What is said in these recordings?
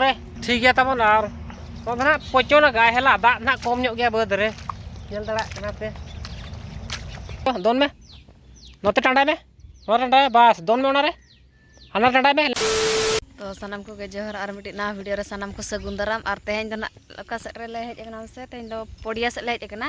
ᱨᱮ ᱴᱷᱤᱠ ᱜᱮᱭᱟ ᱛᱟᱵᱚᱱ ᱟᱨ ᱱᱚᱣᱟ ᱫᱚ ᱱᱟᱦᱟᱜ ᱯᱚᱪᱚᱱ ᱜᱟᱭ ᱦᱮᱞᱟ ᱫᱟᱜ ᱱᱟᱦᱟᱜ ᱠᱚᱢ ᱧᱚᱜ ᱜᱮᱭᱟ ᱵᱟᱹᱫᱽ ᱨᱮ ᱧᱮᱞ ᱫᱟᱲᱮᱭᱟᱜ ᱠᱟᱱᱟ ᱯᱮ ᱫᱚᱱ ᱢᱮ ᱱᱚᱛᱮ ᱴᱟᱸᱰᱟᱭ ᱢᱮ ᱱᱚᱣᱟ ᱴᱟᱸᱰᱟᱭ ᱵᱟᱥ ᱫᱚᱱ ᱢᱮ ᱚᱱᱟᱨᱮ ᱦᱟᱱᱟ ᱴᱟᱸᱰᱟᱭ ᱢᱮ ᱛᱚ ᱥᱟᱱᱟᱢ ᱠᱚᱜᱮ ᱡᱚᱦᱟᱨ ᱟᱨ ᱢᱤᱫᱴᱤᱡ ᱱᱟᱣᱟ ᱵᱷᱤᱰᱤᱭᱳ ᱨᱮ ᱥᱟᱱᱟᱢ ᱠᱚ ᱥᱟᱹᱜᱩᱱ ᱫᱟᱨᱟᱢ ᱟᱨ ᱛᱮᱦᱮᱧ ᱫᱚ ᱱᱟᱜ ᱚᱠᱟ ᱥᱮᱫ ᱨᱮᱞᱮ ᱦᱮᱡ ᱟᱠᱟᱱᱟ ᱥᱮ ᱛᱮᱦᱮᱧ ᱫᱚ ᱯᱚᱲᱤᱭᱟ ᱥᱮᱫ ᱞᱮ ᱦᱮᱡ ᱟᱠᱟᱱᱟ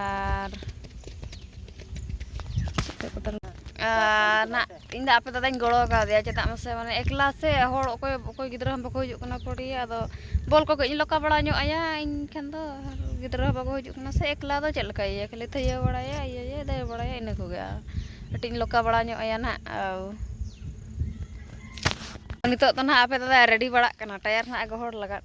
ᱟᱨ ᱟᱨ ᱱᱟᱜ ᱤᱧ ᱫᱚ ᱟᱯᱮ ᱫᱟᱫᱟᱧ ᱜᱚᱲᱚ ᱠᱟᱣᱫᱮᱭᱟ ᱪᱮᱫᱟᱜ ᱢᱟᱥᱮ ᱢᱟᱱᱮ ᱮᱠᱞᱟ ᱥᱮ ᱦᱚᱲ ᱚᱠᱚᱭ ᱚᱠᱚᱭ ᱜᱤᱫᱽᱨᱟᱹ ᱦᱚᱸ ᱵᱟᱠᱚ ᱦᱤᱡᱩᱜ ᱠᱟᱱᱟ ᱯᱚᱲᱤ ᱟᱫᱚ ᱵᱚᱞ ᱠᱚ ᱠᱟᱹᱡ ᱤᱧ ᱞᱚᱠᱟ ᱵᱟᱲᱟ ᱧᱚᱜ ᱟᱭᱟ ᱤᱧ ᱠᱷᱟᱱ ᱫᱚ ᱜᱤᱫᱽᱨᱟᱹ ᱦᱚᱸ ᱵᱟᱠᱚ ᱦᱤᱡᱩᱜ ᱠᱟᱱᱟ ᱥᱮ ᱮᱠᱞᱟ ᱫᱚ ᱪᱮᱫ ᱞᱮᱠᱟᱭ ᱤᱭᱟᱹᱭᱟ ᱠᱷᱟᱹᱞᱤ ᱛᱷᱟᱹᱭᱟᱹ ᱵᱟᱲᱟᱭᱟᱭ ᱤᱭᱟᱹᱭᱟᱭ ᱫᱟᱹᱲ ᱵᱟᱲᱟᱭᱟᱭ ᱤᱱᱟᱹ ᱠᱚᱜᱮ ᱟᱨ ᱠᱟᱹᱴᱤᱡ ᱤᱧ ᱞᱚᱠᱟ ᱵᱟᱲᱟ ᱧᱚᱜ ᱟᱭᱟ ᱱᱟᱜ ᱱᱤᱛᱚᱜ ᱫᱚ ᱱᱟᱜ ᱟᱯᱮ ᱫᱟᱫᱟᱭ ᱨᱮᱰᱤ ᱵᱟᱲᱟᱜ ᱠᱟᱱᱟ ᱴᱟᱭᱟᱨ ᱱᱟᱜ ᱜᱚᱦᱚᱲ ᱞᱟᱜᱟᱫ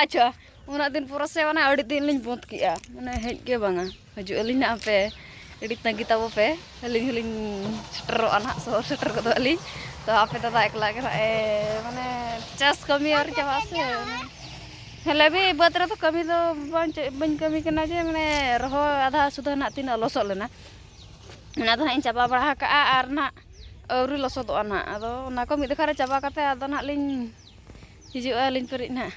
ᱟᱪᱪᱷᱟ ᱩᱱᱟᱹᱜ ᱫᱤᱱ ᱯᱚᱨᱮ ᱥᱮ ᱢᱟᱱᱮ ᱟᱹᱰᱤ ᱫᱤᱱ ᱞᱤᱧ ᱵᱚᱸᱫᱽ ᱠᱮᱜᱼᱟ ᱢᱟᱱᱮ ᱦᱮᱡ ᱜᱮ ᱵᱟᱝᱟ ᱦᱤᱡᱩᱜ ᱟᱹᱞᱤᱧ ᱱᱟᱜ ᱟᱯᱮ ᱟᱹᱰᱤ ᱛᱟᱺᱜᱤ ᱛᱟᱵᱚ ᱯᱮ ᱟᱹᱞᱤᱧ ᱦᱚᱸᱞᱤᱧ ᱥᱮᱴᱮᱨᱚᱜᱼᱟ ᱱᱟᱜ ᱥᱚᱦᱚᱨ ᱥᱮᱴᱮᱨ ᱜᱚᱫᱚᱜ ᱟᱹᱞᱤᱧ ᱛᱚ ᱟᱯᱮ ᱫᱟᱫᱟ ᱮᱠᱞᱟ ᱜᱮ ᱱᱟᱜ ᱮ ᱢᱟᱱᱮ ᱪᱟᱥ ᱠᱟᱹᱢᱤ ᱟᱹᱣᱨᱤ ᱪᱟᱵᱟᱜ ᱟᱥᱮ ᱦᱮᱞᱮ ᱵᱤ ᱵᱟᱹᱫᱽ ᱨᱮᱫᱚ ᱠᱟᱹᱢᱤ ᱫᱚ ᱵᱟᱝ ᱪᱮᱫ ᱵᱟᱹᱧ ᱠᱟᱹᱢᱤ ᱠᱟᱱᱟ ᱡᱮ ᱢᱟᱱᱮ ᱨᱚᱦᱚᱭ ᱟᱫᱷᱟ ᱥᱩᱫᱷᱟᱹ ᱱᱟᱜ ᱛᱤᱱᱟᱹᱜ ᱞᱚᱥᱚᱫ ᱞᱮᱱᱟ ᱚᱱᱟ ᱫᱚ ᱱᱟᱜ ᱤᱧ ᱪᱟᱵᱟ ᱵᱟᱲᱟ ᱟᱠᱟᱜᱼᱟ ᱟᱨ ᱱᱟᱜ ᱟᱹᱣᱨᱤ ᱞᱚᱥᱚᱫᱚᱜᱼᱟ ᱱᱟᱜ ᱟᱫᱚ ᱚᱱᱟ ᱠᱚ ᱢᱤᱫ ᱫᱮᱠᱷᱟ ᱨᱮ ᱪᱟᱵᱟ ᱠᱟᱛᱮᱫ ᱟᱫᱚ ᱱᱟᱜ ᱞᱤᱧ ᱦᱤᱡᱩᱜᱼᱟ ᱟᱹᱞᱤᱧ ᱯᱟᱹᱨᱤᱡ ᱱᱟᱦᱟᱜ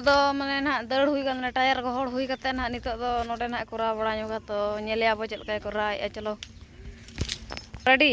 ᱫᱚ ᱢᱟᱱᱮ ᱱᱟᱦᱟᱜ ᱫᱟᱹᱲ ᱦᱩᱭ ᱠᱟᱱᱟ ᱢᱟᱱᱮ ᱴᱟᱭᱟᱨ ᱜᱚᱦᱚᱲ ᱦᱩᱭ ᱠᱟᱛᱮᱫ ᱱᱟᱦᱟᱜ ᱱᱤᱛᱚᱜ ᱫᱚ ᱱᱚᱰᱮ ᱱᱟᱦᱟᱜ ᱠᱚᱨᱟᱣ ᱵᱟᱲᱟ ᱧᱚᱜᱟ ᱛᱚ ᱧᱮᱞᱮᱭᱟ ᱵᱚ ᱪᱮᱫ ᱞᱮᱠᱟᱭ ᱠᱚᱨᱟᱣᱮᱜᱼᱟ ᱪᱚᱞᱚ ᱨᱮᱰᱤ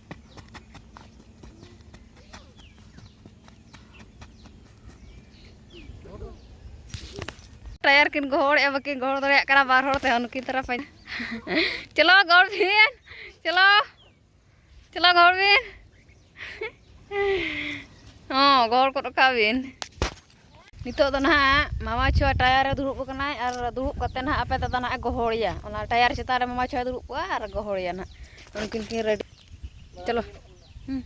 ᱴᱟᱭᱟᱨ ᱠᱤᱱ ᱜᱚᱦᱚᱲᱮᱜᱼᱟ ᱵᱟᱹᱠᱤᱱ ᱜᱚᱦᱚᱲ ᱫᱟᱲᱮᱭᱟᱜ ᱠᱟᱱᱟ ᱵᱟᱨ ᱦᱚᱲ ᱛᱮᱦᱚᱸ ᱱᱩᱠᱤᱱ ᱛᱟᱨᱟ ᱯᱟᱸᱡᱟ ᱪᱚᱞᱚ ᱜᱚᱲ ᱵᱤᱱ ᱪᱚᱞᱚ ᱪᱚᱞᱚ ᱜᱚᱲ ᱵᱤᱱ ᱦᱚᱸ ᱜᱚᱲ ᱜᱚᱫ ᱠᱟᱜ ᱵᱤᱱ ᱱᱤᱛᱚᱜ ᱫᱚ ᱱᱟᱦᱟᱜ ᱢᱟᱢᱟ ᱪᱷᱳᱭᱟ ᱴᱟᱭᱟᱨ ᱨᱮ ᱫᱩᱲᱩᱵ ᱟᱠᱟᱱᱟᱭ ᱟᱨ ᱫᱩᱲᱩᱵ ᱠᱟᱛᱮ ᱱᱟᱦᱟᱜ ᱟᱯᱮ ᱫᱟᱫᱟ ᱱᱟᱦᱟᱜ ᱜᱚᱦᱚᱲᱮᱭᱟ ᱚᱱᱟ ᱴᱟᱭᱟᱨ ᱪᱮᱛᱟᱱ ᱨᱮ ᱢᱟᱢᱟ ᱪᱷᱳᱭᱟ ᱫᱩᱲᱩᱵ ᱠᱚᱜᱼᱟ ᱟᱨ ᱜᱚᱦᱚᱲᱮᱭᱟ ᱱᱟᱦᱟᱜ ᱩᱱᱠᱤᱱ ᱠᱤᱱ ᱨᱮᱰᱤ ᱪᱚᱞᱚ ᱦᱩᱸ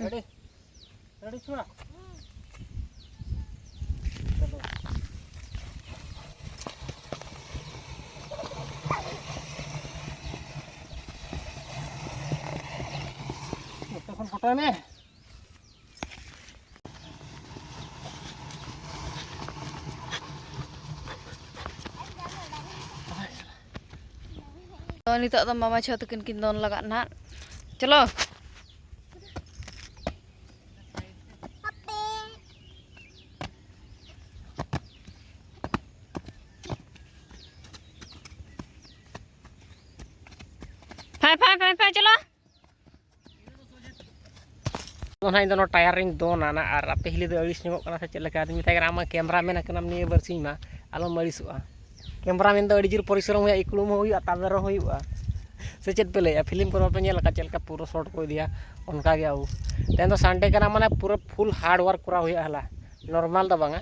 ᱨᱮᱰᱤ ᱨᱮᱰᱤ ᱪᱷᱳᱭᱟ ᱯᱚᱴᱚᱭ ᱢᱮ ᱱᱤᱛᱚᱜ ᱫᱚ ᱢᱟᱢᱟ ᱪᱷᱚ ᱛᱟᱹᱠᱤᱱ ᱠᱤᱱ ᱫᱚᱱ ᱞᱟᱜᱟᱜ ᱱᱟᱦᱟᱜ ᱪᱚᱞᱚ ᱯᱷᱟᱭ ᱯᱷᱟᱭ ᱯᱷᱟᱭ ᱯᱷᱟᱭ ᱪᱚᱞᱚ ᱚᱱᱟ ᱤᱧ ᱫᱚ ᱱᱚᱣᱟ ᱴᱟᱭᱟᱨ ᱨᱤᱧ ᱫᱚᱱᱟ ᱱᱟ ᱟᱨ ᱟᱯᱮ ᱦᱤᱞᱤ ᱫᱚ ᱟᱹᱲᱤᱥ ᱧᱚᱜᱚᱜ ᱠᱟᱱᱟ ᱥᱮ ᱪᱮᱫ ᱞᱮᱠᱟ ᱟᱫᱚᱧ ᱢᱮᱛᱟᱭ ᱠᱟᱱᱟ ᱟᱢ ᱢᱟ ᱠᱮᱢᱨᱟ ᱢᱮᱱ ᱠᱟᱱᱟᱢ ᱱᱤᱭᱟᱹ ᱵᱟᱹᱨᱥᱤᱧ ᱢᱟ ᱟᱞᱚᱢ ᱟᱹᱲᱤᱥᱚᱜᱼᱟ ᱠᱮᱢᱨᱟ ᱢᱮᱱ ᱫᱚ ᱟᱹᱰᱤ ᱡᱳᱨ ᱯᱚᱨᱤᱥᱨᱚᱢ ᱦᱩᱭᱩᱜᱼᱟ ᱤᱠᱲᱩᱢ ᱦᱚᱸ ᱦᱩᱭᱩᱜᱼᱟ ᱛᱟᱵᱮᱨ ᱦᱚᱸ ᱦᱩᱭᱩᱜᱼᱟ ᱥᱮ ᱪᱮᱫ ᱯᱮ ᱞᱟᱹᱭᱮᱜᱼᱟ ᱯᱷᱤᱞᱤᱢ ᱠᱚᱨᱮ ᱵᱟᱯᱮ ᱧᱮᱞ ᱟᱠᱟᱫ ᱪᱮᱫ ᱞᱮᱠᱟ ᱯᱩᱨᱟᱹ ᱥᱚᱨᱴ ᱠᱚ ᱤᱫᱤᱭᱟ ᱚᱱᱠᱟ ᱜᱮ ᱟᱵᱚ ᱛᱮᱦᱮᱧ ᱫᱚ ᱥᱟᱱᱰᱮ ᱠᱟᱱᱟ ᱢᱟᱱᱮ ᱯᱩᱨᱟᱹ ᱯᱷᱩᱞ ᱦᱟᱨᱰ ᱚᱣᱟᱨᱠ ᱠᱚᱨᱟᱣ ᱦᱩᱭᱩᱜᱼᱟ ᱦᱮᱞᱟ ᱱᱚᱨᱢᱟᱞ ᱫᱚ ᱵᱟᱝᱟ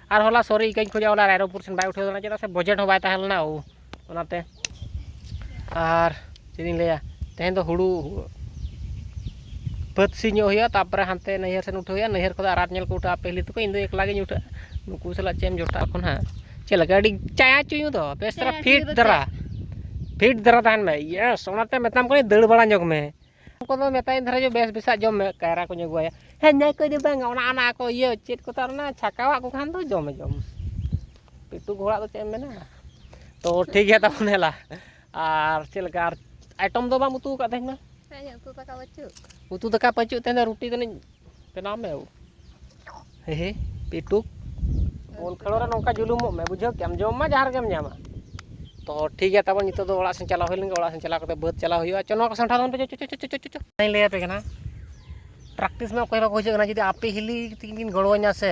ᱟᱨ ᱦᱚᱞᱟ ᱥᱚᱨᱤ ᱤᱠᱟᱹᱧ ᱠᱷᱚᱡᱟ ᱦᱚᱞᱟ ᱨᱟᱭᱨᱚᱝᱯᱩᱨ ᱥᱮᱱ ᱵᱟᱭ ᱩᱴᱷᱟᱹᱣ ᱞᱮᱱᱟ ᱪᱮᱫᱟᱜ ᱥᱮ ᱵᱚᱡᱮᱴ ᱦᱚᱸ ᱵᱟᱭ ᱛᱟᱦᱮᱸ ᱞᱮᱱᱟ ᱚᱱᱟᱛᱮ ᱟᱨ ᱪᱮᱫ ᱤᱧ ᱞᱟᱹᱭᱟ ᱛᱮᱦᱮᱧ ᱫᱚ ᱦᱩᱲᱩ ᱵᱟᱹᱫᱽ ᱥᱤ ᱧᱚᱜ ᱦᱩᱭᱩᱜᱼᱟ ᱛᱟᱨᱯᱚᱨᱮ ᱦᱟᱱᱛᱮ ᱱᱟᱹᱭᱦᱟᱹᱨ ᱥᱮᱱ ᱩᱴᱷᱟᱹᱣ ᱦᱩᱭᱩᱜᱼᱟ ᱱᱟᱹᱭᱦᱟᱹᱨ ᱠᱷᱚᱱ ᱟᱨᱟᱛ ᱧᱮᱞ ᱠᱚ ᱩᱴᱷᱟᱹᱜᱼᱟ ᱯᱟᱹᱦᱤᱞᱤ ᱛᱟᱠᱚ ᱤᱧ ᱫᱚ ᱮᱠᱞᱟ ᱜᱤᱧ ᱩᱴᱷᱟᱹᱜᱼᱟ ᱱᱩᱠᱩ ᱥᱟᱞᱟᱜ ᱪᱮᱫ ᱮᱢ ᱡᱚᱴᱟᱜ ᱠᱚ ᱱᱟᱦᱟᱜ ᱪᱮᱫ ᱞᱮᱠᱟ ᱟᱹᱰᱤ ᱪᱟᱭᱟ ᱪᱩᱭᱩ ᱫᱚ ᱵᱮᱥ ᱫᱷᱟᱨᱟ ᱯᱷᱤᱴ ᱫᱷᱟᱨᱟ ᱯᱷᱤᱴ ᱫᱷᱟᱨᱟ ᱛᱟᱦᱮᱱ ᱢᱮ ᱤᱭᱮᱥ ᱚᱱᱟᱛᱮ ᱢᱮᱛᱟᱢ ᱠᱟᱹᱱᱟᱹᱧ ᱫᱟᱹᱲ ᱵᱟᱲᱟ ᱧᱚᱜᱽ ᱢᱮ ᱩᱱᱠᱩ ᱫᱚ ᱢᱮᱛᱟᱭ ᱫᱷᱟᱨᱟ ᱡᱮ ᱵᱮᱥ ᱵᱮᱥᱟᱜ ᱡᱚᱢ ᱢᱮ ᱠᱟᱭᱨᱟ ᱠᱚᱧ ᱟᱹᱜᱩᱣᱟᱭᱟ ᱦᱮᱸ ᱧᱟᱭ ᱠᱚ ᱫᱚ ᱵᱟᱝᱟ ᱚᱱᱟ ᱚᱱᱟ ᱠᱚ ᱤᱭᱟᱹ ᱪᱮᱫ ᱠᱚ ᱛᱟᱨ ᱚᱱᱟ ᱪᱷᱟᱠᱟᱣᱟᱜ ᱠᱚ ᱠᱷᱟᱱ ᱫᱚ ᱡᱚᱢᱮ ᱡᱚᱢ ᱯᱤᱴᱩ ᱜᱷᱚᱲᱟᱜ ᱫᱚ ᱪᱮᱫ ᱮᱢ ᱢᱮᱱᱟ ᱛᱚ ᱴᱷᱤᱠ ᱜᱮᱭᱟ ᱛᱟᱵᱚᱱ ᱦᱮᱞᱟ ᱟᱨ ᱪᱮᱫ ᱞᱮᱠᱟ ᱟᱨ ᱟᱭᱴᱚᱢ ᱫᱚ ᱵᱟᱢ ᱩᱛᱩ ᱟᱠᱟᱫ ᱛᱮᱦᱮᱧ ᱢᱟ ᱩᱛᱩ ᱫᱟᱠᱟ ᱯᱟᱹᱪᱩᱜ ᱩᱛᱩ ᱫᱟᱠᱟ ᱯᱟᱹᱪᱩᱜ ᱛᱮᱦᱮᱧ ᱫᱚ ᱨᱩᱴᱤ ᱫᱚᱞᱤᱧ ᱵᱮᱱᱟᱣ ᱢᱮ ᱦᱮ ᱦᱮ ᱯᱮᱴᱩᱠ ᱵᱚᱞ ᱠᱷᱮᱞᱳ ᱨᱮ ᱱᱚᱝᱠᱟ ᱡᱩᱞᱩᱢᱚᱜ ᱢᱮ ᱵᱩᱡᱷᱟᱹᱣ ᱠᱮᱜ ᱟᱢ ᱡᱚᱢ ᱢᱟ ᱡᱟᱦᱟᱸ ᱨᱮᱜᱮᱢ ᱧᱟᱢᱟ ᱛᱚ ᱴᱷᱤᱠ ᱜᱮᱭᱟ ᱛᱟᱵᱚᱱ ᱱᱤᱛᱚᱜ ᱫᱚ ᱚᱲᱟᱜ ᱥᱮᱱ ᱪᱟᱞᱟᱣ ᱦᱩᱭ ᱞᱮᱱᱜᱮ ᱚᱲᱟᱜ ᱥᱮᱱ ᱪᱟᱞᱟᱣ ᱠᱟᱛᱮ ᱵᱟᱹᱫᱽ ᱪᱟᱞᱟᱣ ᱦᱩᱭᱩᱜᱼᱟ ᱪᱚ ᱱᱚᱣᱟ ᱠᱚ ᱥᱟᱢᱴᱟᱣ ᱛᱟᱵᱚᱱ ᱯᱮ ᱪᱚ ᱪᱚ ᱪᱚ ᱪᱚ ᱪᱚᱧ ᱞᱟᱹᱭ ᱟᱯᱮ ᱠᱟᱱᱟ ᱯᱨᱮᱠᱴᱤᱥ ᱢᱟ ᱚᱠᱚᱭ ᱦᱚᱸ ᱵᱟᱠᱚ ᱦᱤᱡᱩᱜ ᱠᱟᱱᱟ ᱡᱩᱫᱤ ᱟᱯᱮ ᱦᱤᱞᱤ ᱛᱤᱠᱤᱱ ᱠᱤᱱ ᱜᱚᱲᱚ ᱤᱧᱟ ᱥᱮ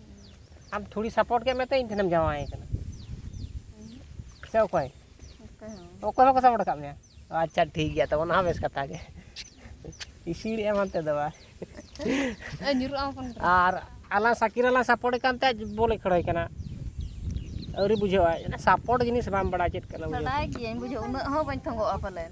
ᱟᱢ ᱛᱷᱚᱲᱤ ᱥᱟᱯᱳᱨᱴ ᱠᱮᱫ ᱢᱮᱛᱮ ᱤᱧ ᱴᱷᱮᱱᱮᱢ ᱡᱟᱶᱟᱭ ᱠᱟᱱᱟ ᱥᱮ ᱚᱠᱚᱭ ᱚᱠᱚᱭ ᱦᱚᱸᱠᱚ ᱥᱟᱯᱳᱨᱴ ᱟᱠᱟᱫ ᱢᱮᱭᱟ ᱟᱪᱪᱷᱟ ᱴᱷᱤᱠ ᱜᱮᱭᱟ ᱛᱚ ᱚᱱᱟ ᱦᱚᱸ ᱵᱮᱥ ᱠᱟᱛᱷᱟ ᱜᱮ ᱤᱥᱤᱲ ᱮᱢ ᱦᱟᱱᱛᱮ ᱫᱚ ᱵᱟᱝ ᱟᱨ ᱟᱞᱟᱝ ᱥᱟᱠᱤᱨ ᱟᱞᱟᱝ ᱥᱟᱯᱳᱨᱴ ᱠᱟᱱ ᱛᱮ ᱵᱚᱞᱮ ᱠᱷᱮᱲᱚᱭ ᱠᱟᱱᱟ ᱟᱹᱣᱨᱤ ᱵᱩᱡᱷᱟᱹᱣᱟᱭ ᱥᱟᱯᱳᱨᱴ ᱡᱤᱱᱤᱥ ᱵᱟᱢ ᱵᱟᱲᱟᱭ ᱪᱮᱫ ᱠᱟᱱᱟ ᱵᱟᱲᱟᱭ ᱜᱤᱭᱟᱹᱧ ᱵᱩᱡᱷᱟᱹᱣ ᱩᱱᱟᱹᱜ ᱦᱚᱸ ᱵᱟᱹᱧ ᱛᱚᱸᱜᱚᱜᱼᱟ ᱯᱟᱞᱮᱱ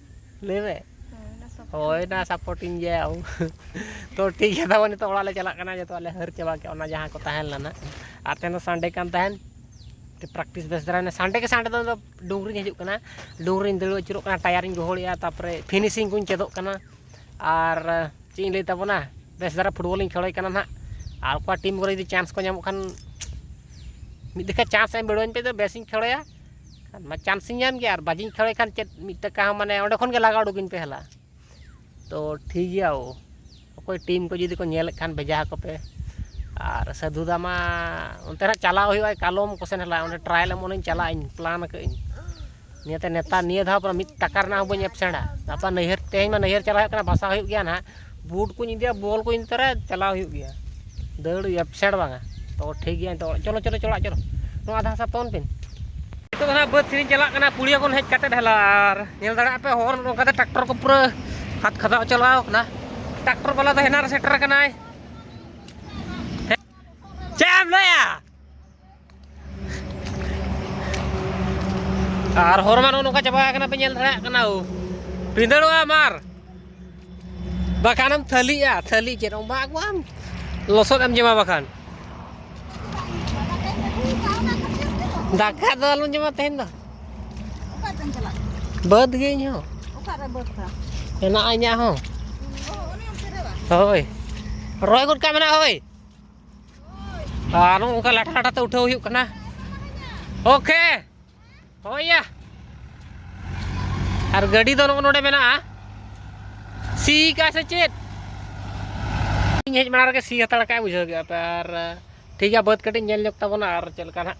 ᱞᱟᱹᱭ ᱢᱮ ᱦᱳᱭ ᱱᱟ ᱥᱟᱯᱳᱨᱴᱤᱝ ᱜᱮᱭᱟ ᱛᱚ ᱴᱷᱤᱠ ᱜᱮᱭᱟ ᱛᱟᱵᱚᱱ ᱱᱤᱛᱚᱜ ᱚᱲᱟᱜ ᱞᱮ ᱪᱟᱞᱟᱜ ᱠᱟᱱᱟ ᱡᱚᱛᱚ ᱟᱞᱮ ᱦᱟᱹᱨ ᱪᱟᱵᱟ ᱠᱮᱜᱼᱟ ᱚᱱᱟ ᱡᱟᱦᱟᱸ ᱠᱚ ᱛᱟᱦᱮᱸ ᱞᱮᱱᱟ ᱟᱨ ᱛᱮᱦᱮᱧ ᱫᱚ ᱥᱟᱱᱰᱮ ᱠᱟᱱ ᱛᱟᱦᱮᱸᱫ ᱯᱨᱮᱠᱴᱤᱥ ᱵᱮᱥ ᱫᱷᱟᱨᱟ ᱦᱩᱭᱱᱟ ᱥᱟᱱᱰᱮ ᱜᱮ ᱥᱟᱱᱰᱮ ᱫᱚ ᱤᱧᱫᱚ ᱰᱩᱝᱨᱤᱧ ᱦᱤᱡᱩᱜ ᱠᱟᱱᱟ ᱰᱩᱝᱨᱤᱧ ᱫᱟᱹᱲ ᱟᱹᱪᱩᱨᱚᱜ ᱠᱟᱱᱟ ᱴᱟᱭᱟᱨᱤᱧ ᱜᱚᱦᱚᱲᱮᱜᱼᱟ ᱛᱟᱨᱯᱚᱨᱮ ᱯᱷᱤᱱᱤᱥᱤᱝ ᱠᱚᱧ ᱪᱮᱫᱚᱜ ᱠᱟᱱᱟ ᱟᱨ ᱪᱮᱫ ᱤᱧ ᱞᱟᱹᱭ ᱛᱟᱵᱚᱱᱟ ᱵᱮᱥ ᱫᱷᱟᱨᱟ ᱯᱷᱩᱴᱵᱚᱞᱤᱧ ᱠᱷᱮᱞᱚᱜ ᱠᱟᱱᱟ ᱦᱟᱸᱜ ᱟᱨ ᱚᱠᱟ ᱴᱤᱢ ᱠᱚᱨᱮ ᱡᱩᱫᱤ ᱪᱟᱱᱥ ᱠᱚ ᱧᱟᱢᱚᱜ ᱠᱷᱟᱱ ᱢᱤᱫ ᱡᱚᱠᱷᱚᱡ ᱪᱟᱱᱥ ᱮᱢ ᱵᱤᱰᱟᱹᱣᱟᱹᱧ ᱯᱮ ᱵᱮᱥᱤᱧ ᱠᱷᱮᱞᱚᱜᱼᱟ ᱠᱷᱟᱱ ᱢᱟ ᱪᱟᱱᱥ ᱤᱧ ᱧᱟᱢ ᱜᱮᱭᱟ ᱟᱨ ᱵᱟᱡᱤᱧ ᱠᱷᱮᱞᱳᱭ ᱠᱷᱟᱱ ᱪᱮᱫ ᱢᱤᱫ ᱴᱟᱠᱟ ᱦᱚᱸ ᱢᱟᱱᱮ ᱚᱸᱰᱮ ᱠᱷᱚᱱ ᱜᱮ ᱞᱟᱜᱟ ᱩᱰᱩᱠᱤᱧ ᱯᱮ ᱦᱮᱞᱟ ᱛᱚ ᱴᱷᱤᱠ ᱜᱮᱭᱟ ᱳ ᱚᱠᱚᱭ ᱴᱤᱢ ᱠᱚ ᱡᱩᱫᱤ ᱠᱚ ᱧᱮᱞᱮᱫ ᱠᱷᱟᱱ ᱵᱷᱮᱡᱟ ᱟᱠᱚ ᱯᱮ ᱟᱨ ᱥᱟᱹᱫᱷᱩ ᱫᱟ ᱢᱟ ᱚᱱᱛᱮ ᱱᱟᱦᱟᱜ ᱪᱟᱞᱟᱣ ᱦᱩᱭᱩᱜᱼᱟ ᱠᱟᱞᱚᱢ ᱠᱚᱥᱮᱱ ᱦᱮᱞᱟ ᱚᱸᱰᱮ ᱴᱨᱟᱭᱮᱞ ᱮᱢᱚᱜ ᱤᱧ ᱪᱟᱞᱟᱜ ᱟᱹᱧ ᱯᱞᱟᱱ ᱟᱠᱟᱫ ᱟᱹᱧ ᱱᱤᱭᱟᱹᱛᱮ ᱱᱮᱛᱟᱨ ᱱᱤᱭᱟᱹ ᱫᱷᱟᱣ ᱢᱤᱫ ᱴᱟᱠᱟ ᱨᱮᱱᱟᱜ ᱦᱚᱸ ᱵᱟᱹᱧ ᱮᱵᱽᱥᱮᱱᱴᱼᱟ ᱜᱟᱯᱟ ᱱᱟᱹᱭᱦᱟᱹᱨ ᱛᱮᱦᱮᱧ ᱢᱟ ᱱᱟᱹᱭᱦᱟᱹᱨ ᱪᱟᱞᱟᱜ ᱦᱩᱭᱩᱜ ᱠᱟᱱᱟ ᱵᱟᱥᱟ ᱦᱩᱭᱩᱜ ᱜᱮᱭᱟ ᱱᱟᱦᱟᱜ ᱵᱩᱴ ᱠᱚᱧ ᱤᱫᱤᱭᱟ ᱵᱚᱞ ᱠᱚᱧ ᱤᱫᱤ ᱛᱚᱨᱟᱭᱟ ᱪᱟᱞᱟᱣ ᱦᱩᱭᱩᱜ ᱜᱮᱭᱟ ᱫᱟᱹᱲ ᱮᱯᱥᱮᱱᱴ ᱵᱟᱝᱟ ᱛᱚ ᱴᱷᱤᱠ ᱜᱮᱭᱟ ᱱᱤᱛᱚᱜ ᱪᱚᱞᱚ ᱪᱚᱞᱚ ᱪᱚᱞᱚ ᱚᱲᱟᱜ ᱪᱚᱞᱚ ᱱᱚᱣᱟ ᱟᱫᱷᱟ ᱦᱟᱥᱟ ᱛᱚᱞ ᱯᱮᱱ ᱱᱤᱛᱚᱜ ᱫᱚ ᱦᱟᱸᱜ ᱵᱟᱹᱫᱽ ᱥᱮᱫ ᱪᱟᱞᱟᱜ ᱠᱟᱱᱟ ᱯᱩᱲᱤᱭᱟᱹ ᱠᱷᱚᱱ ᱦᱮᱡ ᱠᱟᱛᱮ ᱰᱷᱟᱞᱟ ᱟᱨ ᱧᱮᱞ ᱫᱟᱲᱮᱭᱟᱜ ᱯᱮ ᱦᱚᱨ ᱱᱚᱝᱠᱟᱛᱮ ᱴᱨᱟᱠᱴᱚᱨ ᱠᱚ ᱯᱩᱨᱟᱹ ᱦᱟᱛ ᱠᱷᱟᱫᱟᱣ ᱪᱟᱞᱟᱣ ᱠᱟᱱᱟ ᱴᱨᱟᱠᱴᱚᱨ ᱵᱟᱞᱟ ᱫᱚ ᱦᱮᱱᱟᱨ ᱥᱮᱴᱮᱨ ᱠᱟᱱᱟᱭ ᱪᱮᱫ ᱮᱢ ᱞᱟᱹᱭᱟ ᱟᱨ ᱦᱚᱨ ᱢᱟ ᱱᱚᱜᱼᱚ ᱱᱚᱝᱠᱟ ᱪᱟᱵᱟ ᱟᱠᱟᱱᱟ ᱯᱮ ᱧᱮᱞ ᱫᱟᱲᱮᱭᱟᱜ ᱠᱟᱱᱟ ᱳ ᱵᱷᱤᱸᱫᱟᱹᱲᱚᱜᱼᱟ ᱢᱟᱨ ᱵᱟᱠᱷᱟᱱᱮᱢ ᱛᱷᱟᱹᱞᱤᱜᱼᱟ ᱛᱷᱟᱹᱞᱤ ᱪᱮᱫ ᱚᱱᱟ ᱟᱹᱜᱩᱣᱟᱢ ᱞᱚᱥᱚᱫ ᱮᱢ ᱡᱚᱢᱟ ᱵᱟᱠᱷᱟᱱ ᱫᱟᱠᱟ ᱫᱚ ᱟᱞᱚᱢ ᱡᱚᱢᱟ ᱛᱮᱦᱮᱧ ᱫᱚ ᱵᱟᱹᱫᱽ ᱜᱮ ᱤᱧ ᱦᱚᱸ ᱢᱮᱱᱟᱜᱼᱟ ᱤᱧᱟᱹᱜ ᱦᱚᱸ ᱦᱳᱭ ᱨᱚᱦᱚᱭ ᱜᱚᱫ ᱠᱟᱜ ᱢᱮᱱᱟᱜᱼᱟ ᱦᱳᱭ ᱟᱨ ᱱᱚᱜᱼᱚ ᱱᱚᱝᱠᱟ ᱞᱟᱴᱷᱟ ᱞᱟᱴᱷᱟ ᱛᱮ ᱩᱴᱷᱟᱹᱣ ᱦᱩᱭᱩᱜ ᱠᱟᱱᱟ ᱳᱠᱮ ᱦᱳᱭᱟ ᱟᱨ ᱜᱟᱹᱰᱤ ᱫᱚ ᱱᱚᱜᱼᱚ ᱱᱚᱰᱮ ᱢᱮᱱᱟᱜᱼᱟ ᱥᱤ ᱠᱟ ᱥᱮ ᱪᱮᱫ ᱤᱧ ᱦᱮᱡ ᱢᱟᱲᱟᱝ ᱨᱮᱜᱮ ᱥᱤ ᱦᱟᱛᱟᱲ ᱠᱟᱜᱼᱟ ᱵᱩᱡᱷᱟᱹᱣ ᱠᱮᱜᱼᱟ ᱯᱮ ᱟᱨ ᱴᱷᱤᱠ ᱜᱮᱭᱟ ᱵᱟᱹᱫᱽ ᱠᱟᱹᱴᱤᱡ ᱧᱮᱞ ᱧᱚᱜᱽ ᱛᱟᱵᱚᱱᱟ ᱟᱨ ᱪᱮᱫ ᱞᱮᱠᱟ ᱱᱟᱦᱟᱜ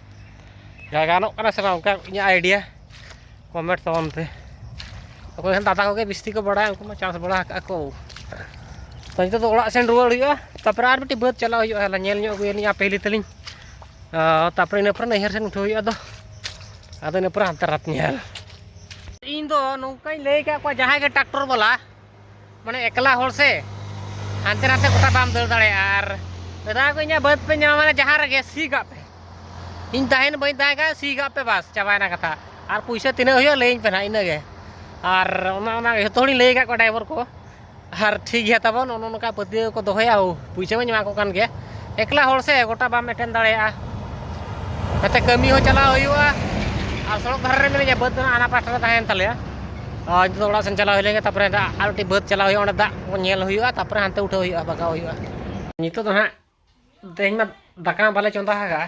ᱡᱟᱭᱜᱟ ᱜᱟᱱᱚᱜ ᱠᱟᱱᱟ ᱥᱮ ᱵᱟᱝ ᱚᱱᱠᱟ ᱤᱧᱟᱹᱜ ᱟᱭᱰᱤᱭᱟ ᱠᱚᱢᱮᱱᱴ ᱛᱟᱵᱚᱱ ᱯᱮ ᱚᱠᱚᱭ ᱦᱚᱸ ᱫᱟᱫᱟ ᱠᱚᱜᱮ ᱵᱤᱥᱛᱤ ᱠᱚ ᱵᱟᱲᱟᱭᱟ ᱩᱱᱠᱩ ᱢᱟ ᱪᱟᱥ ᱵᱟᱲᱟ ᱟᱠᱟᱫ ᱠᱚ ᱛᱚ ᱱᱤᱛᱚᱜ ᱫᱚ ᱚᱲᱟᱜ ᱥᱮᱱ ᱨᱩᱣᱟᱹᱲ ᱦᱩᱭᱩᱜᱼᱟ ᱛᱟᱨᱯᱚᱨᱮ ᱟᱨ ᱢᱤᱫᱴᱤᱡ ᱵᱟᱹᱫᱽ ᱪᱟᱞᱟᱜ ᱦᱩᱭᱩᱜᱼᱟ ᱦᱟᱞᱮ ᱧᱮᱞ ᱧᱚᱜ ᱟᱹᱜᱩᱭᱟᱞᱤᱧ ᱟᱯᱮ ᱦᱤᱞᱤ ᱛᱟᱹᱞᱤᱧ ᱛᱟᱨᱯᱚᱨᱮ ᱤᱱᱟᱹ ᱯᱚᱨᱮ ᱱᱟᱹᱭᱦᱟᱹᱨ ᱥᱮᱱ ᱩᱴᱷᱟᱹᱣ ᱦᱩᱭᱩᱜᱼᱟ ᱟᱫᱚ ᱟᱫᱚ ᱤᱱᱟᱹ ᱯᱚᱨᱮ ᱦᱟᱱᱛᱮ ᱨᱟᱛ ᱧᱮᱞ ᱤᱧ ᱫᱚ ᱱᱚᱝᱠᱟᱧ ᱞᱟᱹᱭ ᱟᱠᱟᱫ ᱠᱚᱣᱟ ᱡᱟᱦᱟᱸᱭ ᱜᱮ ᱴᱨᱟᱠᱴᱚᱨ ᱵᱟᱞᱟ ᱢᱟᱱᱮ ᱮᱠᱞᱟ ᱦᱚᱲ ᱥᱮ ᱦᱟᱱᱛᱮ ᱱᱟᱛᱮ ᱜᱚᱴᱟ ᱵᱟᱢ ᱫᱟᱹᱲ ᱫᱟᱲᱮᱭᱟᱜᱼᱟ ᱟᱨ ᱢᱮᱛᱟ ᱠᱚ ᱤᱧᱟᱹᱜ ᱵᱟᱹᱫᱽ ᱯᱮ ᱧᱟᱢᱟ ᱢᱟᱱᱮ ᱡᱟᱦᱟᱸ ᱨᱮᱜᱮ ᱥᱤ ᱠᱟᱜ ᱯᱮ ᱤᱧ ᱛᱟᱦᱮᱱ ᱵᱟᱹᱧ ᱛᱟᱦᱮᱸ ᱠᱷᱟᱱ ᱥᱤ ᱠᱟᱜ ᱯᱮ ᱵᱟᱥ ᱪᱟᱵᱟᱭᱮᱱᱟ ᱠᱟᱛᱷᱟ ᱟᱨ ᱯᱩᱭᱥᱟᱹ ᱛᱤᱱᱟᱹᱜ ᱦᱩᱭᱩᱜᱼᱟ ᱞᱟᱹᱭᱟᱹᱧ ᱯᱮ ᱱᱟᱦᱟᱜ ᱤᱱᱟᱹᱜᱮ ᱟᱨ ᱚᱱᱟ ᱚᱱᱟ ᱡᱚᱛᱚ ᱦᱚᱲᱤᱧ ᱞᱟᱹᱭ ᱟᱠᱟᱫ ᱠᱚᱣᱟ ᱰᱟᱭᱵᱷᱟᱨ ᱠᱚ ᱟᱨ ᱴᱷᱤᱠ ᱜᱮᱭᱟ ᱛᱟᱵᱚᱱ ᱱᱚᱜᱼᱚ ᱱᱚᱝᱠᱟ ᱯᱟᱹᱛᱭᱟᱹᱣ ᱠᱚ ᱫᱚᱦᱚᱭᱟ ᱦᱳ ᱯᱩᱭᱥᱟᱹ ᱢᱟᱧ ᱮᱢᱟ ᱠᱚ ᱠᱟᱱ ᱜᱮᱭᱟ ᱮᱠᱞᱟ ᱦᱚᱲ ᱥᱮ ᱜᱚᱴᱟ ᱵᱟᱢ ᱮᱴᱮᱱ ᱫᱟᱲᱮᱭᱟᱜᱼᱟ ᱱᱚᱛᱮ ᱠᱟᱹᱢᱤ ᱦᱚᱸ ᱪᱟᱞᱟᱣ ᱦᱩᱭᱩᱜᱼᱟ ᱟᱨ ᱥᱚᱲᱚᱠ ᱫᱷᱟᱨᱮ ᱨᱮ ᱢᱤᱱᱟᱹᱧᱟ ᱵᱟᱹᱫᱽ ᱫᱚ ᱦᱟᱸᱜ ᱦᱟᱱᱟ ᱯᱟᱥᱴᱟ ᱨᱮ ᱛᱟᱦᱮᱸᱭᱮᱱ ᱛᱟᱞᱮᱭᱟ ᱟᱨ ᱱᱤᱛᱚᱜ ᱫᱚ ᱚᱲᱟᱜ ᱥᱮᱱ ᱪᱟᱞᱟᱣ ᱦᱩᱭ ᱞᱮᱱᱜᱮ ᱛᱟᱨᱯᱚᱨᱮ ᱟᱨ ᱢᱤᱫᱴᱤᱡ ᱵᱟᱹᱫᱽ ᱪᱟᱞᱟᱣ ᱦᱩᱭᱩᱜᱼᱟ ᱚᱸᱰᱮ ᱫᱟᱜ ᱠᱚ ᱧᱮᱞ ᱦᱩᱭᱩᱜᱼᱟ ᱛᱟᱨᱯᱚᱨᱮ ᱦᱟᱱᱛᱮ ᱩᱴᱷᱟᱹᱣ ᱦᱩᱭᱩᱜᱼᱟ ᱵᱟᱜᱟᱣ ᱦᱩᱭᱩᱜᱼᱟ ᱱᱤᱛᱚᱜ ᱫᱚ ᱦᱟᱸᱜ ᱛᱮᱦᱮᱧ ᱢᱟ ᱫᱟᱠᱟ ᱢᱟ ᱵᱟᱞᱮ ᱪᱚᱸᱫᱟ ᱟᱠᱟᱫᱼᱟ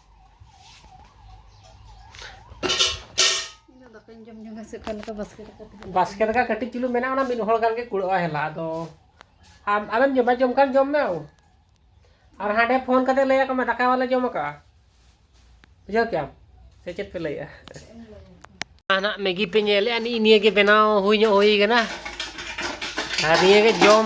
ᱵᱟᱥᱠᱮ ᱫᱟᱠᱟ ᱠᱟᱹᱴᱤᱡ ᱪᱩᱞᱩ ᱢᱮᱱᱟᱜᱼᱟ ᱚᱱᱟ ᱢᱤᱫ ᱦᱚᱲ ᱜᱟᱱ ᱜᱮ ᱠᱩᱲᱟᱹᱜᱼᱟ ᱦᱮᱞᱟ ᱟᱫᱚ ᱟᱢ ᱟᱢᱮᱢ ᱡᱚᱢᱟ ᱡᱚᱢ ᱠᱷᱟᱱ ᱡᱚᱢ ᱢᱮ ᱟᱨ ᱦᱟᱸᱰᱮ ᱯᱷᱳᱱ ᱠᱟᱛᱮ ᱞᱟᱹᱭ ᱟᱠᱚ ᱢᱮ ᱫᱟᱠᱟ ᱵᱟᱞᱮ ᱡᱚᱢ ᱟᱠᱟᱜᱼᱟ ᱵᱩᱡᱷᱟᱹᱣ ᱠᱮᱜᱼᱟᱢ ᱥᱮ ᱪᱮᱫ ᱯᱮ ᱞᱟᱹᱭᱮᱜᱼᱟ ᱱᱟᱜ ᱢᱮᱜᱤ ᱯᱮ ᱧᱮᱞᱮᱜᱼᱟ ᱱᱤᱭᱟᱹ ᱜᱮ ᱵᱮᱱᱟᱣ ᱦᱩᱭ ᱧᱚᱜ ᱦᱩᱭ ᱠᱟᱱᱟ ᱟᱨ ᱱᱤᱭᱟᱹ ᱜᱮ ᱡᱚᱢ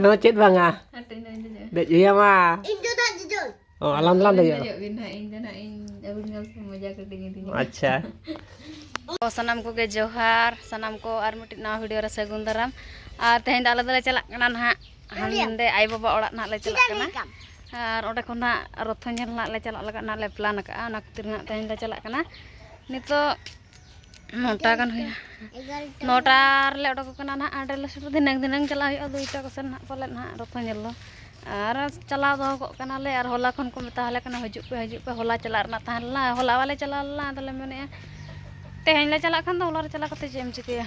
ᱱᱚᱣᱟ ᱪᱮᱫ ᱵᱟᱝᱟ ᱫᱮᱡ ᱦᱩᱭᱟᱢᱟ ᱤᱧ ᱫᱚ ᱱᱟᱜ ᱡᱚᱡᱚᱞ ᱚ ᱟᱞᱟᱢ ᱫᱚᱞᱟᱢ ᱫᱮᱡᱚᱜᱼᱟ ᱫᱮᱡᱚᱜ ᱵᱤᱱ ᱦᱟᱸᱜ ᱤᱧ ᱫᱚ ᱱᱟᱜ ᱤᱧ ᱟᱹᱵᱤᱱ ᱧᱮᱞ ᱛᱮ ᱢᱚᱡᱟ ᱠᱟᱹᱴᱤᱡ ᱤᱫᱤᱧᱟ ᱟᱪᱪᱷᱟ ᱥᱟᱱᱟᱢ ᱠᱚᱜᱮ ᱡᱚᱦᱟᱨ ᱥᱟᱱᱟᱢ ᱠᱚ ᱟᱨ ᱢᱤᱫᱴᱤᱡ ᱱᱟᱣᱟ ᱵᱷᱤᱰᱤᱭᱳ ᱨᱮ ᱥᱟᱹᱜᱩᱱ ᱫᱟᱨᱟᱢ ᱟᱨ ᱛᱮᱦᱮᱧ ᱫᱚ ᱟᱞᱮ ᱫᱚᱞᱮ ᱪᱟᱞᱟᱜ ᱠᱟᱱᱟ ᱱᱟᱦᱟᱜ ᱦᱟᱸᱰᱮ ᱟᱭᱳ ᱵᱟᱵᱟ ᱚᱲᱟᱜ ᱱᱟᱦᱟᱜ ᱞᱮ ᱪᱟᱞᱟᱜ ᱠᱟᱱᱟ ᱟᱨ ᱚᱸᱰᱮ ᱠᱷᱚᱱ ᱱᱟᱦᱟᱜ ᱨᱚᱛᱷᱚ ᱧᱮᱞ ᱱᱟᱦᱟᱜ ᱞᱮ ᱪᱟᱞᱟᱜ ᱞᱟᱹᱜᱤᱫ ᱱᱟᱦᱟᱜ ᱞᱮ ᱯᱞᱟᱱ ᱟᱠᱟᱫᱼᱟ ᱚᱱᱟ ᱠᱷᱟᱹᱛᱤᱨ ᱱᱟᱦᱟᱜ ᱛᱮᱦᱮᱧ ᱞᱮ ᱪᱟᱞᱟᱜ ᱠᱟᱱᱟ ᱱᱤᱛᱚᱜ ᱱᱚᱴᱟ ᱜᱟᱱ ᱦᱩᱭᱱᱟ ᱱᱚᱴᱟ ᱨᱮᱞᱮ ᱚᱰᱚᱠᱚᱜ ᱠᱟᱱᱟ ᱱᱟᱦᱟᱜ ᱟᱸᱰᱮ ᱞᱮ ᱥᱮᱴᱮᱨ ᱫᱷᱤᱱᱟᱹᱝ ᱫᱷᱤᱱᱟᱹᱝ ᱪᱟᱞᱟᱜ ᱦᱩᱭᱩᱜᱼᱟ ᱫᱩᱭᱴᱟ ᱠᱚᱥᱮᱱ ᱱᱟᱦᱟᱜ ᱯᱟᱞᱮᱫ ᱱᱟᱦᱟᱜ ᱨᱚᱛᱷᱚ ᱧᱮᱞ ᱫᱚ ᱟᱨ ᱪᱟᱞᱟᱣ ᱫᱚᱦᱚ ᱠᱚᱜ ᱠᱟᱱᱟᱞᱮ ᱟᱨ ᱦᱚᱞᱟ ᱠᱷᱚᱱ ᱠᱚ ᱢᱮᱛᱟ ᱟᱞᱮ ᱠᱟᱱᱟ ᱦᱤᱡᱩᱜ ᱯᱮ ᱦᱤᱡᱩᱜ ᱯᱮ ᱦᱚᱞᱟ ᱪᱟᱞᱟᱜ ᱨᱮᱱᱟᱜ ᱛᱟᱦᱮᱸ ᱞᱮᱱᱟ ᱦᱚᱞᱟ ᱵᱟᱞᱮ ᱪᱟᱞᱟᱣ ᱞᱮᱱᱟ ᱟᱫᱚᱞᱮ ᱢᱮᱱᱮᱫᱼᱟ ᱛᱮᱦᱮᱧ ᱞᱮ ᱪᱟᱞᱟᱜ ᱠᱷᱟᱱ ᱫᱚ ᱦᱚᱞᱟ ᱨᱮ ᱪᱟᱞᱟᱣ ᱠᱟᱛᱮᱫ ᱪᱮᱫ ᱮᱢ ᱪᱤᱠᱟᱹᱭᱟ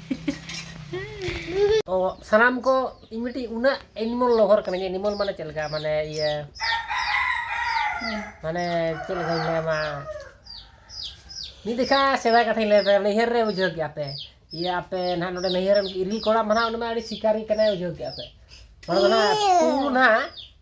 ᱛᱚ ᱥᱟᱱᱟᱢ ᱠᱚ ᱤᱧ ᱢᱤᱫᱴᱤᱡ ᱩᱱᱟᱹᱜ ᱮᱱᱤᱢᱚᱞ ᱞᱚᱵᱷᱟᱨ ᱠᱟᱹᱱᱟᱹᱧ ᱮᱱᱤᱢᱚᱞ ᱢᱟᱱᱮ ᱪᱮᱫ ᱞᱮᱠᱟ ᱢᱟᱱᱮ ᱤᱭᱟᱹ ᱢᱟᱱᱮ ᱪᱮᱫ ᱞᱮᱠᱟᱧ ᱞᱟᱹᱭᱟᱢᱟ ᱢᱤᱫ ᱫᱮᱠᱷᱟ ᱥᱮᱫᱟᱭ ᱠᱟᱛᱷᱟᱧ ᱞᱟᱹᱭ ᱯᱮ ᱱᱟᱹᱭᱦᱟᱹᱨ ᱨᱮ ᱵᱩᱡᱷᱟᱹᱣ ᱠᱮᱜᱼᱟ ᱯᱮ ᱤᱭᱟᱹ ᱟᱯᱮ ᱱᱟᱦᱟᱜ ᱱᱚᱰᱮ ᱱᱟᱹᱭᱦᱟᱹᱨ ᱨᱮᱱ ᱤᱨᱤᱞ ᱠᱚᱲᱟ ᱢᱟ ᱱᱟᱦᱟᱜ ᱩᱱᱤ ᱢᱟ ᱟᱹᱰᱤ ᱥᱤᱠᱟᱨᱤ ᱠᱟᱱᱟᱭ ᱵᱩᱡᱷᱟᱹᱣ ᱠᱮᱜᱼᱟ ᱯᱮ ᱚᱱᱟ ᱫᱚ ᱱᱟᱦᱟᱜ ᱛᱩᱭᱩ ᱱᱟᱦᱟᱜ